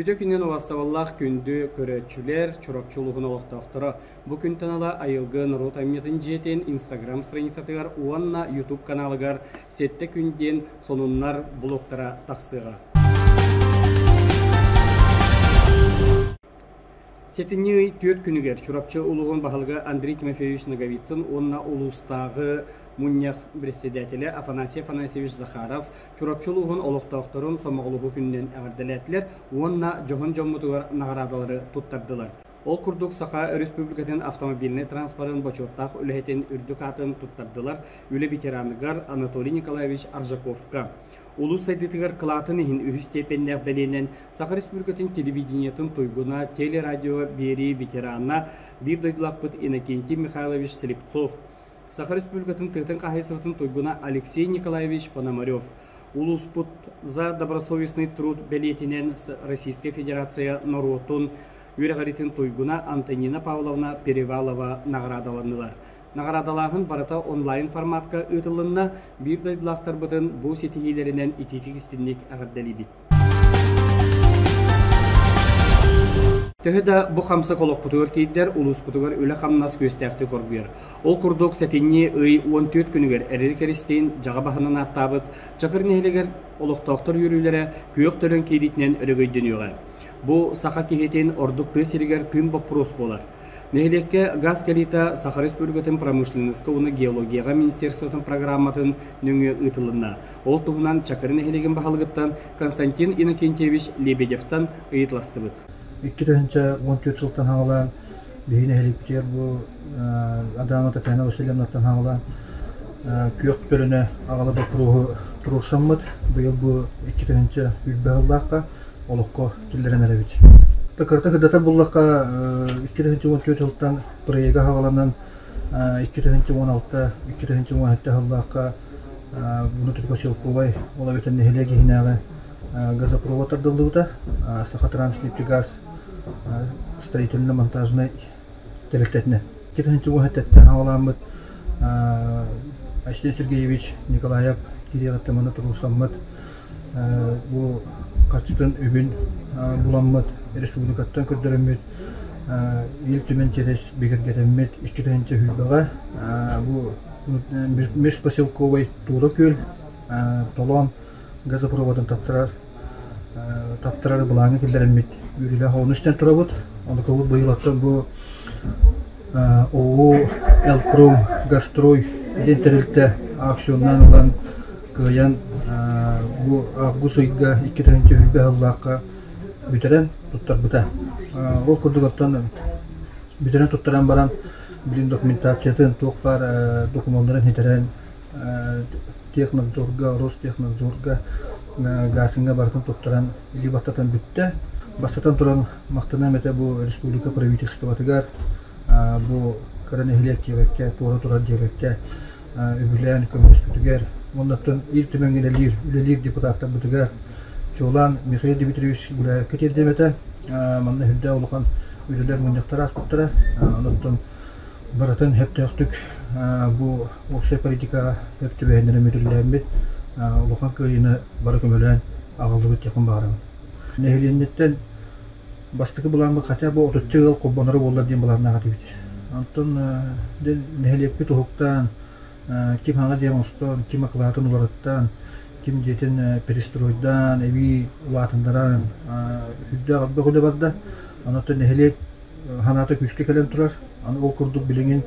Үтө күнүн уостабыллаах күндү көрөөччүлэр, Чурапчы улууһун олохтоохторо, бу күнтэн ыла айылгы норуот айымньытын дьиэтин Инстаграм страницатыгар уонна Ютуб каналыгар Сэттэ күн диэн сонуннар блогтара тахсыаҕа. Сэтинньи ый түөрт күнүгэр Чурапчы улууһун баһылыга Андрей Тимофеевич Ноговицын уонна улуустааҕы мунньах бэрэссэдээтэлэ Афанасий Афанасьевич Захаров Чурапчы улууһун олохтоохторун сомоҕолоһуу күнүнэн эҕэрдэлээтилэр уонна дьоһун дьоммутугар наҕараадалары туттардылар. Ол курдук, Саха Өрөспүүбүлүкэтин автомобильнай транспорын бочуоттаах үлэһитин үрдүк аатын туттардылар, үлэ ветераныгар Анатолий Николаевич Аржаковка, Улуус сайдыытыгар кылаатын иһин үһүс степеннээх бэлиэнэн Саха Республикатын телевидениетын туйгуна, телерадио биэрии ветерана, биир дойдулаахпыт Иннокентий Михайлович Слепцов, Саха Республикатын тыатын хаһаайыстыбатын туйгуна Алексей Николаевич Пономарев, улууспут За добросовестный труд бэлиэтинэн Российская Федерация норуотун үөрэҕиритин туйгуна Антонина Павловна Перевалова наҕараадаланнылар. Наҕараадалааһын барыта онлайн форматка ыытылынна, биир дойдулаахтарбытын бу ситиһиилэринэн итиитик-истинник эҕэрдэлиибит! Төһө да бу хамсык олохпутугар киирдэр, улууспутугар үлэ-хамнас күөстээхтик оргуйар. Ол курдук, сэтинньи ый уон түөрт күнүгэр эрэл кэристиин дьаҕа баһынан ааттаабыт Чакыр нэһилиэгэр олохтоохтор үөрүүлэрэ күөх төлөн киириитинэн өрөгөйдөнүөҕэ. Бу саха киһитин ордук тыа сиригэр тыын боппуруос буолар. Нэһилиэккэ газ кэлиитэ Саха Республикатын промышленноска уонна геологияҕа министерствотын программатын нөҥүө ыытылынна. Ол туһунан Чакыры нэһилиэгин баһылыгыттан Константин Иннокентьевич Лебедевтан ыйытыластыбыт. Икки тыһыынча уон түөрт сылтан хаҥалаан биһи нэһиликпитигэр бу Адамо Татьяна Васильевнаттан хаҥалаан күөх төлөнө аҕала боппуруоһу туруорсаммыт. Быйыл бу икки тыһыынча үрбэх ыллаахха олоххо киллэрэн эрэбит. Да кырата кырдата буллахха икки тыһыынча уон түөрт сылтан проекка хабаланан икки тыһыынча уон алта, икки тыһыынча уон сэттэ сыллаахха bunu Трипосилковай, ол эбэтэр нэһилиэк иһинээҕи газопровод тардыллыбыта, Сахатранснефтегаз строительно-монтажнай төрөттөрүнэ. Ити иһин чугас өттөттөн аҕалааммыт Айсен Сергеевич Николаев Кириэҕиттэн манна туруусаммыт бу харчытын үбүн буламмыт, республикаттан көрдөрөммүт Ил Түмэн чэрис бигэргэтэммит икки тыһыынча сүүрбэҕэ бу межпоселковай Туура күөл толоон газопроводун таттарар Тракторары былааҥҥа киллэрэммит үөрүүлээх оҕону истэн турабыт. Онукабыт быйыл оттон бу ОУО «Элпром Гастрой» итин тэрилтэ аукционнаан ылан кыайан бу август ыйга икки тыһыынча үһүйбэх ыллаахха бүтэрэн туттарбыта. Ол курдук оттон бүтэрэн туттаран баран, блин документациятын, туох баар докумуоннарын хитэрэн Технадзорга, Ростехнадзорга гааскыҥҥа барытын туттаран илии баттатан бүттэ. Бастатан туран, махтаныам этэ бу республика правительствотыгар, бу кыра нэһилиэк диэбэккэ, туора турар диэбэккэ үбүлээн көмөлөспүтүгэр, оннуттан Ил Түмэҥҥин үлэлиир, үлэлиир депутаттарбытыгар, чуолаан Михаил Дмитриевич Гуляевка тиэрдэм этэ. Манна үрдэ улахан үлэлэр мунньахтара ааспыттара. Онуттан барытын сөптөөхтүк бу уопсай политикаҕа сөп түбэһиннэрэн мүөтүрэлээммит улахан кыайыыны бары көмөлөөн аҕаллыбыт диэхпин баҕарабын. Нэһилиэнньэттэн бастакы былааммыт хотя бы отучча ыал холбоноро буоллар диэн былааннаах этибит. Онтон нэһилиэкпит уһуктаан, ким хаҥа дьиэ оҥостоон, ким акылаатын уларыттаан, ким дьиэтин перестройдаан, эбии улаатыннаран, үрдээх өрбөх үлэ барда. Онтон нэһилиэк санаата күүскэ кэлэн турар. Аны ол курдук билиҥин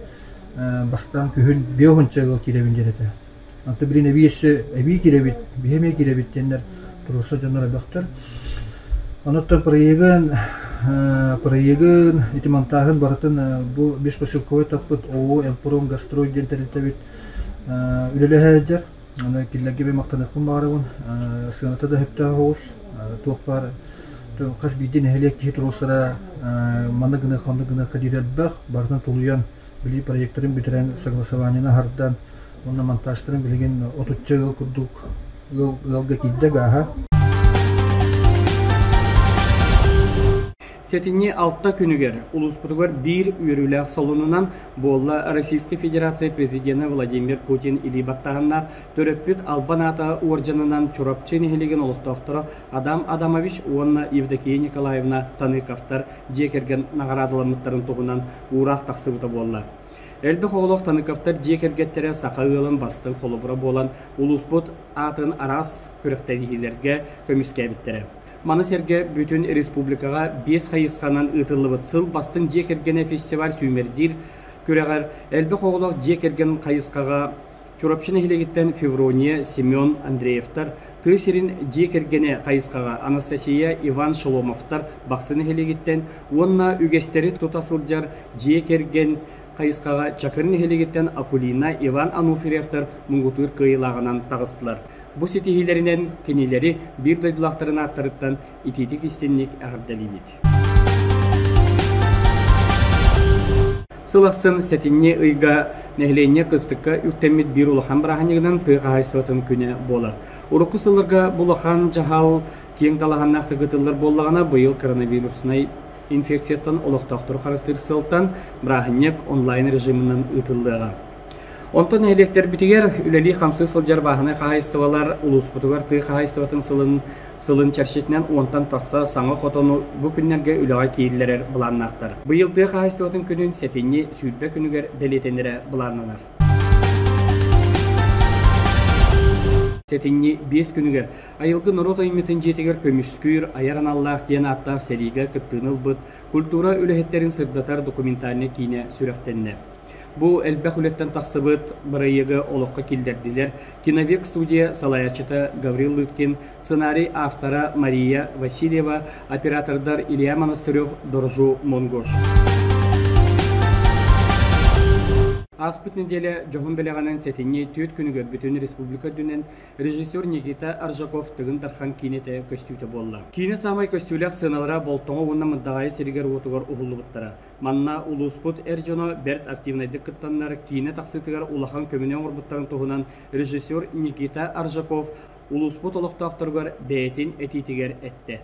бастаан күһүн биэ уһунчаҕыга киирэбин диэн этэ. Онтон билин эбии өссө эбии киирэбит, биһи эмиэ киирэбит диэннэр туруорса дьоннор элбэхтэр. Онуттан проегын проегын ити монтааһын барытын бу бишпоселковой таппыт ООО «Элпром Гастрой» диэн тэрилтэбит үлэлэһэ сылдьар. Аны кинилэргэ би махтаныахпын баҕарабын. Сыаната да сөптөөх оҕус. Туох баар хас биирдии нэһилиэк киһи туруорсара манна гыныах, ханна гыныахха диир элбэх. Барытын тулуйан, билии проектарын бүтэрэн, согласованиены аһардан, уонна монтажтарын билигин отучча ыал курдук ыалга киирдэ гааһа. Сэтинньи алта күнүгэр улууспутугар биир үөрүүлээх солунунан буолла Российскай Федерация Президенэ Владимир Путин илии баттаһыннаах төрөппүт албан аата уордьанынан Чурапчы нэһилиэгин олохтоохторо Адам Адамович уонна Евдокия Николаевна Таныковтар дьиэ кэргэн наҕараадаламмыттарын туһунан уураах тахсыбыта буолла. Элбэх оҕолоох Таныковтар дьиэ кэргэттэрэ саха ыалын бастыҥ холобура буолан улууспут аатын араас күрэхтэһиилэргэ көмүскээбиттэрэ. Маны сэргэ бүтүн республикаҕа биэс хайысханан ыытыллыбыт Сыл бастыҥ дьиэ кэргэнэ фестиваль сүүмэрдиир күрэҕэр элбэх оҕолоох дьиэ кэргэн хайысхаҕа Чурапчы нэһилиэгиттэн Феврония Семен Андреевтар, тыа сирин дьиэ кэргэнэ хайысхаҕа Анастасия Иван Шеломовтар Бахсы нэһилиэгиттэн уонна үгэстэри тута сылдьар дьиэ кэргэн хайысхаҕа Чакыр нэһилиэгиттэн Акулина, Иван Ануфриевтар муҥутуур кыайыылааҕынан таҕыстылар. Бу ситиһиилэринэн кинилэри биир дойдулаахтарын ааттарыттан итиитик-истинник эҕэрдэлиибит! Сыл ахсын сэтинньи ыйга нэһилиэнньэ кыстыкка үктэммит биир улахан бырааһынньыгынан тыа хаһаайыстыбатын күнэ буолар. Урукку сылларга бу улахан дьаһал киэҥ талаһаннаахтык ыытыллар буоллаҕына, быйыл коронавируснай инфекцияттан олохтоохтору харыстыыр сыалтан бырааһынньык онлайн режиминэн ыытыллыаҕа. Онтон нэһилиэктэрбитигэр үлэлии-хамсыы сылдьар бааһынай хаһаайыстыбалар улууспутугар тыа хаһаайыстыбатын сылын сылын чэрчитинэн уонтан тахса саҥа хотону бу күннэргэ үлэҕэ киириллэрэр былааннаахтар. Быйыл тыа хаһаайыстыбатын күнүн сэтинньи сүүрбэ күнүгэр бэлиэтэнэрэ былааннанар. Сэтинньи биэс күнүгэр Айылгы норуот айымньытын дьиэтигэр Көмүскүүр айар аналлаах диэн ааттаах сэриигэ кыттыыны ылбыт культура үлэһиттэрин сырдатар документальнай киинэ сүрэхтэннэ. Бу элбэх үлэттэн тахсыбыт бырайыагы олоххо киллэрдилэр киновек студия салайааччыта Гаврил Лыткин, сценарий автора Мария Васильева, оператордар Илья Монастырев, Доржу Монгош. Ааспыт нэдиэлэ дьоһун бэлэҕинэн сэтинньи түөрт күнүгэр бүтүн республика үрдүнэн Режиссер Никита Аржаков Тыгын Тархан киинэтэ көстүүтэ буолла. Киинэ саамай көстүүлээх сыаналара Болтоҕо уонна Мырдаҕаайы сиригэр-уотугар уһуллубуттара. Манна улууспут эр дьоно бэрт активнайдык кыттаннар, киинэ тахсыытыгар улахан көмөнү оҥорбуттарын туһунан режиссер Никита Аржаков улууспут олохтоохторугар бэйэтин этиитигэр эттэ.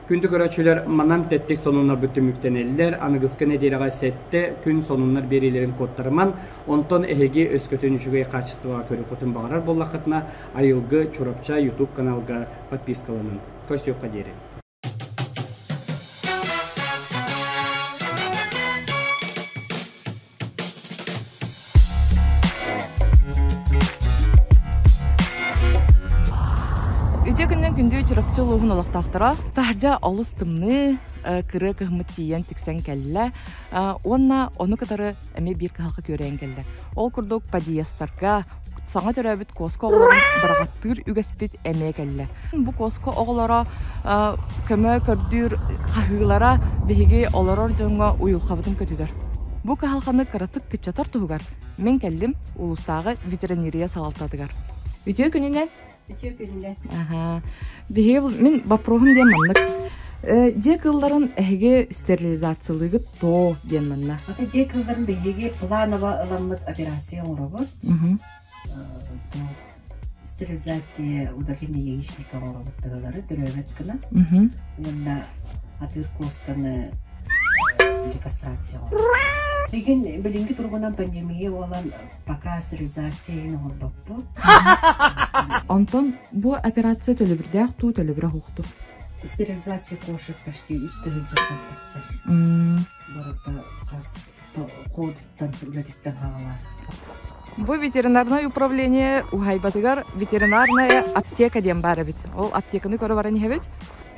Күндү көрөөччүлэр, манан тэттик сонуннарбыт түмүктэнэллэр. Аныгыскы нэдиэлэҕэ сэттэ күн сонуннар биэриилэрин куоттарыман, онтон эһиги өскөтүн үчүгэй хаачыстыбаҕа көрүөххүтүн баҕарар буоллаххытына, айылгы Чурапчы YouTube каналга подпискаланан. Көрсүөххэ диэри. Үтүө күннэн күндү Чурапчы улууһун олохтоохторо таһырдьа олус тымныы, э, кырыы кыһыммыт тиийэн тиксэн кэллэ э, уонна ону кытары эмиэ биир кыһалҕа күөрэйэн кэллэ. Ол курдук подъездарга, саҥа төрөөбүт Куоска оҕолорун быраҕаттыыр үгэспит эмиэ кэллэ. Бу Куоска оҕолоро көмө көрдүүр хаһыылара биһиги олорор дьоҥҥо уйулҕабытын көтүтэр. Бу кыһалҕаны кыратык кыччатар туһугар мин кэллим улуустааҕы ветеринария салалтатыгар. Үтүө күнүнэн Биһиги мин вопроһум диэн маннык. Э, дьиэ кыылларын эһиги стерилизациялыыгыт тоо диэн манна. Ата дьиэ кыылларын биһиги планово ыламмыт операция оҥоробут. Стерилизация удаление яичника оҥоробут тыгалары төрөөбөт гына. Уонна атыыр куосканы э, рекастрация оҥоробут. Легин билинги туругунан пандемия болан пока стерилизация иһин оҥорбоппут. Онтон бу операция төлөбүрдээх дуу, төлөбүрэ уһукту. Стерилизация кошек почти үс тыһыынчаттан тахсар. Барыта хас коодуттан үлэтиттэн хаалар. Бу ветеринарное управление ухайбатыгар ветеринарная аптека диэн бар эбит. Ол аптеканы көрө баран иһэбит.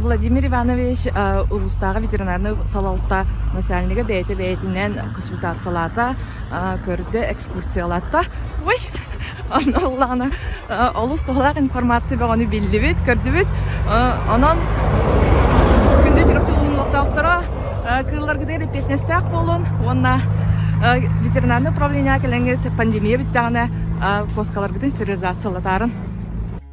Владимир Иванович улуустааҕы ветеринарнай салалта начальнига бэйэтэ бэйэтинэн консультациялаата, көрдө, экскурсиялаата. Ой, онно олус туһалаах информация бөҕөнү биллибит, көрдүбүт. Онон күндү терапевтологтоохторо кыылларгытыгар эппиэтинэстээх буолун уонна ветеринарнай управление кэлэҥҥи пандемия бүттэҕинэ куоскаларгытын стерилизациялатарын.